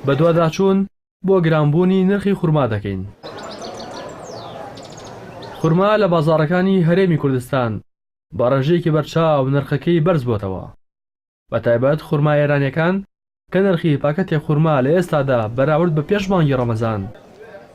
بەدواداچوون بۆ گرانبوونی نرخی خورما دەکەین. خورما لە بازاڕەکانی هەرێمی کوردستان بە ڕێژەیەکی بەرچاو نرخەکەی بەرزبووەتەوە، بەتایبەت خورما ئێرانییەکان کە نرخی پاکەتێک خورما لە ئێستادا بەراورد بە پێش مانگی ڕەمەزان،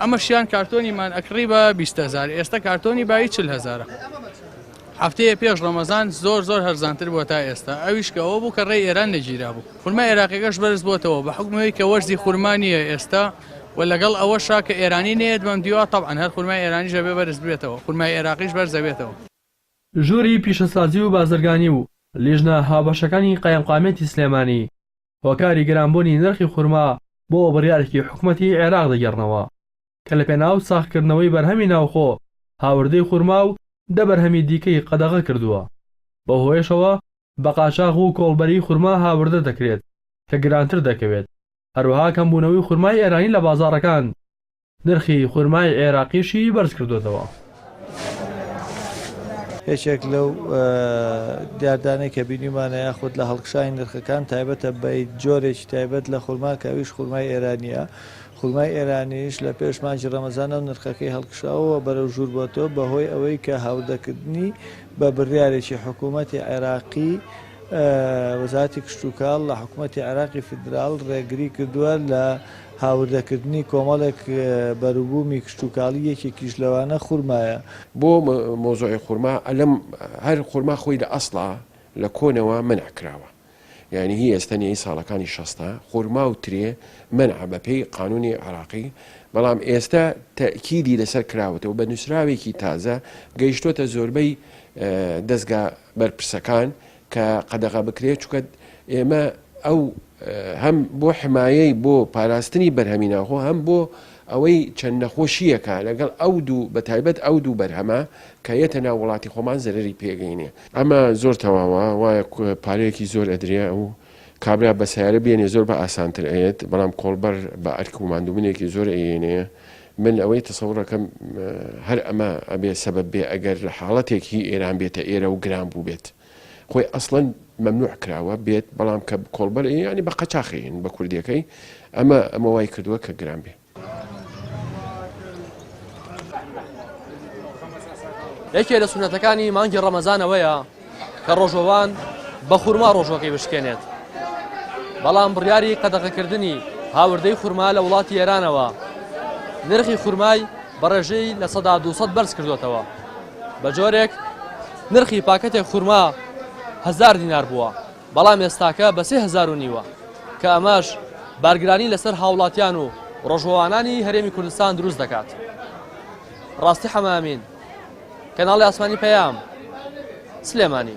ئەمەشیان کارتۆنیمان ئەکڕی بە 20هزار ئێستا کارتۆنی بای چل هزارە هەفتەیە پێش ڕەمەزان زۆر زۆر هەرزانتر بووە تا ئێستا ئەویش کە ئەوە بوو کە ڕێ ئێران نەگیرا بوو خورما عێراقیەکەش بەرز بۆتەوە بە حکومەوەی کە وەرزی خورمانیە ئێستا و لەگەڵ ئەوە شاکە ئێرانی نێت بەم دیوە تەعاان هەر خورمای ئێرانی ژەبێ بەرز بێتەوە خورمای عێراقیش بەرزەبێتەوە ژووری پیشەسازی و بازرگانی و لیژنە هاوبەشەکانی قایمقامیەتی سلێمانی، هۆکاری گرانبوونی نرخی خورما بۆ بڕیارێکی حکومەتی عێراق دەگێڕنەوە کە لەپێناو ساغکردنەوەی بەرهەمی ناوخۆ هاوردەی خورما و دە بەرهەمی دیکەی قەدەغە کردووە بەوهۆیەشەوە بە قاچاغ و کۆڵبەری خورما هاوردە دەکرێت کە گرانتر دەکەوێت هەروەها کەمبوونەوەی خورمای ئێرانی لە بازاڕەکان نرخی خورمای عێراقیشی بەرزکردۆتەوە. یەکێک لەو دیاردانەی کە بینیمانە یاخود لە هەڵکشانی نرخەکان تایبەتە بە جۆرێکی تایبەت لە خورما کە ئەویش خورمای ئێرانیە خورمای ئێرانیش لە پێش مانجی ڕەمەزانە و نرخەکەی هەڵکشاوە بەرەو ژوور بۆتەوە بەهۆی ئەوەی کە هاوردەکردنی بە بڕیارێکی حکوومەتی عێراقی وەزارەتی کشتوکاڵ لە حکوومەتی عێراقی فیدراڵ ڕێگری کردووە لە هاوردەکردنی کۆمەڵێک بەروبوومی کشتوکاڵی یەکێکیش لەوانە خورمایە. بۆ مەوزوعی خورما ئەلەم هەر خورما خۆی لە ئەسڵا لە کۆنەوە مەنع کراوە یانی هی ئێستە نیە هی ساڵەکانی شەستا خورما و ترێ مەنعە بە پێی قانونی عێراقی بەڵام ئێستە تەئکیدی لەسەر کراوەتەوە بە نوسراوێکی تازە گەیشتۆتە زۆربەی دەزگا بەرپرسەکان کە قەدەغە بکرێت چونکە ئێمە ئەو هەم بۆ حمایەی بۆ پاراستنی بەرهەمی ناوخۆ هەم بۆ ئەوەی چەند نەخۆشییەکە لەگەڵ ئەو دوو بە تایبەت ئەو دوو بەرهەمە کە یەتە ناو وڵاتی خۆمان زەرەری پێگەینێ. ئەمە زۆر تەواوە وایە پارەیەکی زۆر ئەدرێ و کابرا بە سەیارە بێنێ زۆر بە ئاسانتر ئەیەت بەڵام کۆڵبەر بە ئەرک و ماندووبونێکی زۆر ئەیێنێ من ئەوەی تەسەور ئەکەم هەر ئەمە ئەبێ سەبەب بێ ئەگەر لە حاڵەتێک هی ئێران بێتە ئێرە و گران بووبێت خۆی ئەسڵەن مەمنوع کراوە بێت بەڵام کە کۆڵبەر ینی بە قەچاخین بە کوردەکەی ئەمە ئەمە وای کردووە کە گران بێ. یەکێ لە سونەتەکانی مانگی ڕەمەزانەوەیە کە ڕۆژەوان بە خورما ڕۆژەکەی بشکێنێت بەڵام بڕیاری قەدەغەکردنی هاوردەی خورما لە وڵاتی ئێرانەوە نرخی خورمای بە ڕێژەی لە سەدا 200 بەرز کردوێتەوە بە جۆرێک نرخی پاکەتێک خورما هزار دینار بووە بەڵام ئێستاکە بە سێ هزار و نیوە کە ئەمەش بارگرانی لەسەر هاوڵاتیان و ڕۆژوانانی هەرێمی کوردستان دروست دەکات. ڕاستی حەمە ئەمین کەناڵی ئاسمانی پەیام سلێمانی.